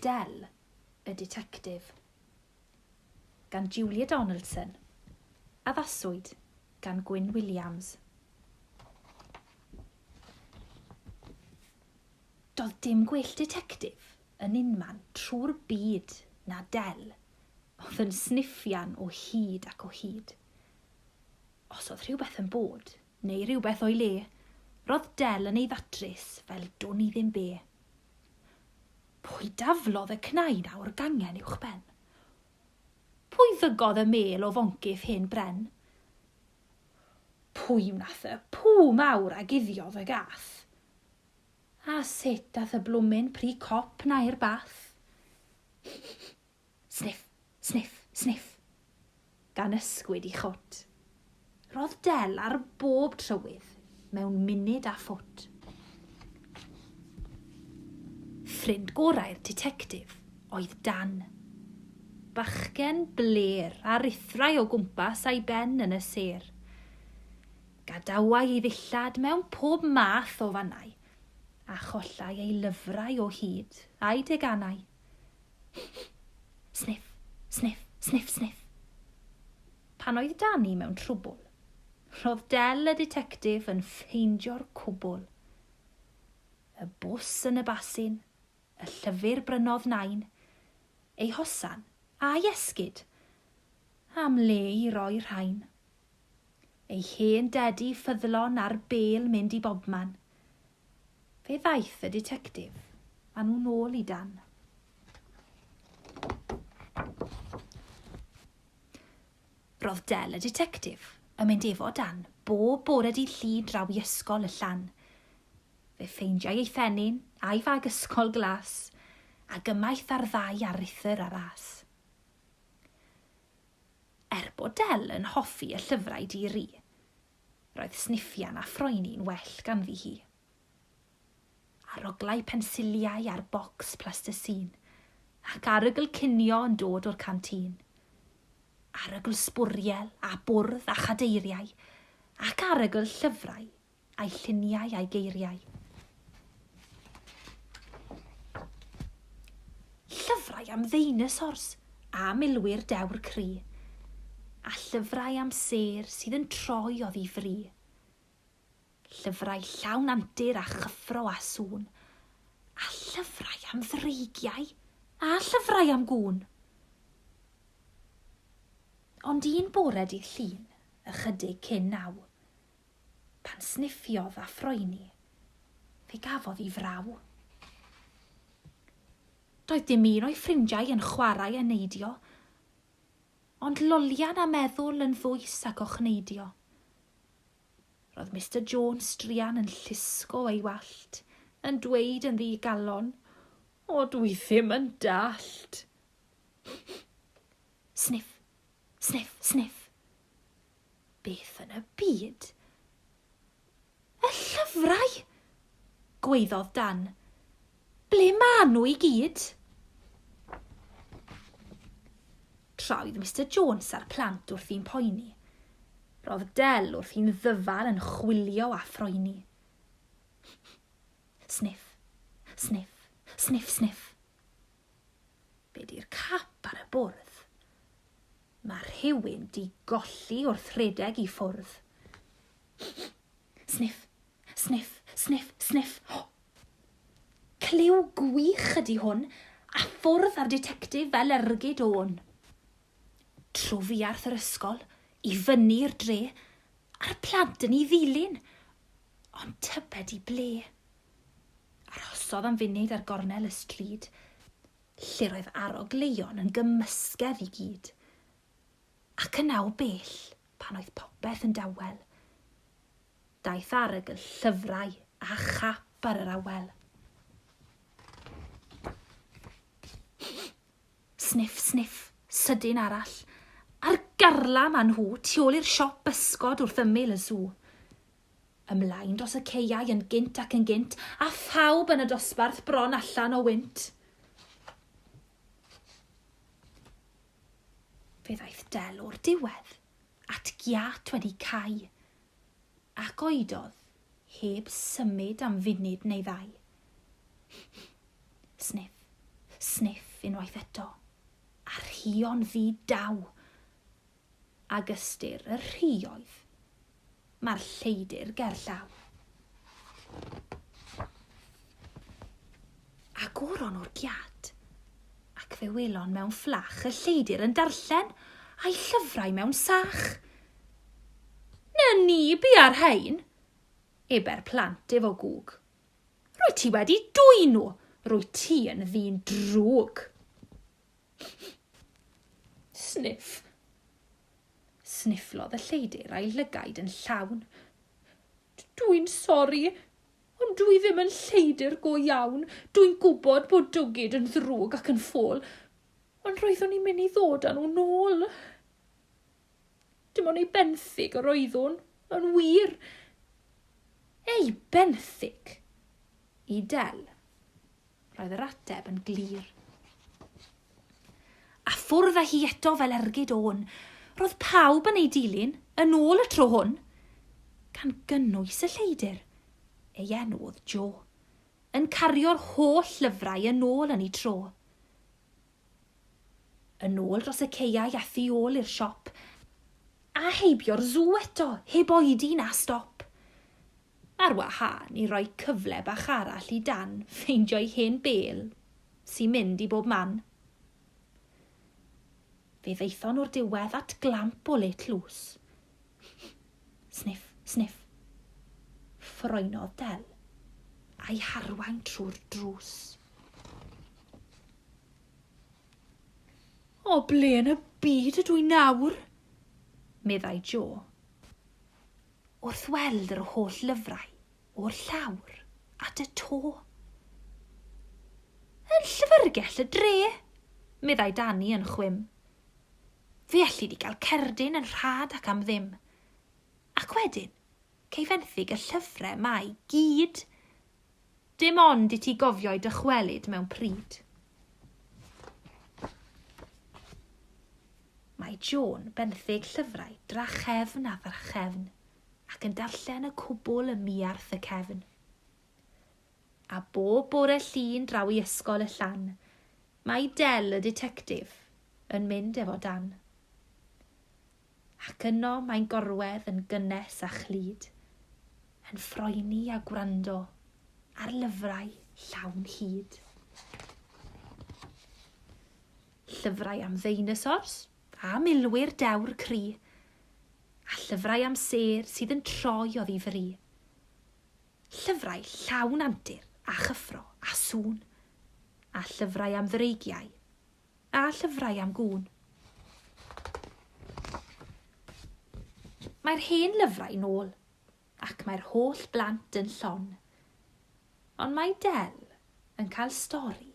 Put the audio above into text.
Del, y Ditectif, gan Julia Donaldson. Addaswyd gan Gwyn Williams. Doedd dim gwell ditectif yn unman trwy'r byd na Del, oedd yn sniffian o hyd ac o hyd. Os oedd rhywbeth yn bod, neu rhywbeth o'i le, roedd Del yn ei ddatrys fel dwn i ddim be. Pwy daflodd y cnau na o'r gangen uwchben? Pwy ddygodd y mêl o foncyff hen bren? Pwy wnath y pŵ mawr a guddiodd y gath? A sut ath y blwmin pry cop 'na i'r bath? Sniff, sniff, sniff, gan ysgwyd 'i chwt. Ro'dd Del ar bob trywydd mewn munud a phwt. Ffrind gorau'r ditectif oedd Dan. Bachgen bler a rithrai o gwmpas a'i ben yn y sêr. Gadawai i ddillad mewn pob math o fannau, a chollai ei lyfrau o hyd a'i deganau. Sniff, sniff, sniff, sniff. Pan oedd Dani mewn trwbwl, Ro'dd Del y Ditectif yn ffeindio'r cwbwl. Y bws yn y basin, y llyfyr brynodd Nain, ei hosan, a'i esgid! Am le i roi rhain. Ei hen dedi ffyddlon a'r bêl mynd i bobman. Fe ddaeth y Ditectif a nhw nôl i Dan. Ro'dd Del y Ditectif yn mynd efo Dan bob bore dydd Llun draw i Ysgol y Llan. Fe ffeindiai ei phenyn a'i fag ysgol glas, ag ymaith ar ddau aruthr a ras. Er bod Del yn hoffi y llyfrau di-ri, roedd sniffian a phroeni'n well ganddi hi. aroglau pensiliau a'r bocs plastisîn, ac arogl cinio yn dod o'r cantin, arogl sbwriel a bwrdd a chadeiriau, ac arogl llyfrau a'i lluniau a'i geiriau. Llyfrau am ddeinosors a milwyr dewr cry, a llyfrau am sêr sydd yn troi oddi fri, Llyfrau llawn antur a chyffro a sŵn. A llyfrau am ddreigiau a llyfrau am gŵn. Ond un bore dydd Llun, ychydig cyn naw, pan sniffiodd a phroeni, fe gafodd i fraw. Doedd dim un o'i ffrindiau yn chwarae a neidio, Ond lolian a meddwl yn ddwys ac ochneidio. Roedd Mister Jones druan yn llusgo ei wallt, yn dweud yn ddi-galon, O, dwi ddim yn dallt. Sniff, sniff, sniff. Beth yn y byd? Y llyfrau! gwaeddodd Dan. Ble maen nhw i gyd? Troedd Mister Jones a'r plant wrth i'n poeni. Roedd Del wrth i'n ddyfal yn chwilio a phroeni. Sniff, sniff, sniff, sniff. Be di'r cap ar y bwrdd? Mae rhywun di golli wrth redeg i ffwrdd. Sniff, sniff, sniff, sniff. Oh! Clyw gwych ydi hwn, a ffwrdd ar detectif fel ergyd o'n. Trofiarth yr ysgol, i fyny i'r dre, a'r plant yn ei ddilyn. Ond tybed i ble? Arhosodd am funud ar gornel y stryd, lle roedd arogleuon yn gymysgedd i gyd. Ac yna o bell, pan oedd popeth yn dawel, daeth arogl llyfrau a chap ar yr awel. Sniff, sniff, sydyn arall, a'r garlam â nhw tu ôl i'r siop bysgod wrth ymyl y sw. Ymlaen dros y caeau yn gynt ac yn gynt, a phawb yn y dosbarth bron allan o wynt. Fe ddaeth Del o'r diwedd, at giât wedi cau, ac oedodd heb symud am funud neu ddau. Sniff, sniff unwaith eto, a rhion ddi daw. ag ystyr y rhioedd, mae'r lleidr gerllaw. A goron o'r giad, ac fe welon mewn fflach y lleidr yn darllen a'i llyfrau mewn sach. Na ni bu ar rhain, eber plant efo gwg. Rwy ti wedi dwy'n nhw, rwy ti yn ddyn drwg. Sniff. Snifflodd y lleidr a'i llygaid yn llawn. Dwi'n sori, ond dwi ddim yn lleidr go iawn. Dwi'n gwybod bod dwgid yn ddrwg ac yn ffôl, ond roeddwn i'n mynd i ddod â nhw nôl. Dim ond ei benthyg yr oeddwn, yn wir. Ei benthyg! I Del. Roedd yr ateb yn glir. A ffwrdd â hi eto fel ergyd o'n. Roedd pawb yn ei dilyn, yn ôl y tro hwn, gan gynnwys y lleidr. Ei enw oedd Joe. Yn cario'r holl lyfrau yn ôl yn ei tro. Yn ôl dros y caeau a thu ôl i'r siop, a heibio'r sw eto heb oedi na stop. Ar wahân i roi cyfle bach arall i Dan ffeindio'i hen bêl sy'n mynd i bob man. Fe ddaethon nhw'r diwedd at glamp o let lws, Sniff, sniff. Ffroenodd Del, a'i harwain trwy'r drws. O ble yn y byd ydw i nawr? meddai Jo. Wrth weld yr holl lyfrau o'r llawr at y to. Yn llyfrgell y dre, meddai Dani yn chwim. Fe alli di gael cerdyn yn rhad ac am ddim. Ac wedyn, cei fenthyg y llyfre ma i gyd. Dim ond i ti gofio'u dychwelyd mewn pryd. Mae Joan benthyg llyfrau drachefn a thrachefn, ac yn darllen y cwbl ym miarth y cefn. a bob bore Llun draw i Ysgol y Llan, mae Del y Ditectif yn mynd efo Dan. Ac yno mae'n gorwedd yn gynnes a chlyd, yn ffroeni a gwrando ar lyfrau llawn hyd. Llyfrau am ddeinosors a milwyr dewr cri, a llyfrau am sêr sydd yn troi oddi fri. Llyfrau llawn antur a chyffro a sŵn, a llyfrau am ddreigiau, a llyfrau am gŵn. Mae'r hen lyfrau nôl, ac mae'r holl blant yn llon. Ond mae Del yn cael stori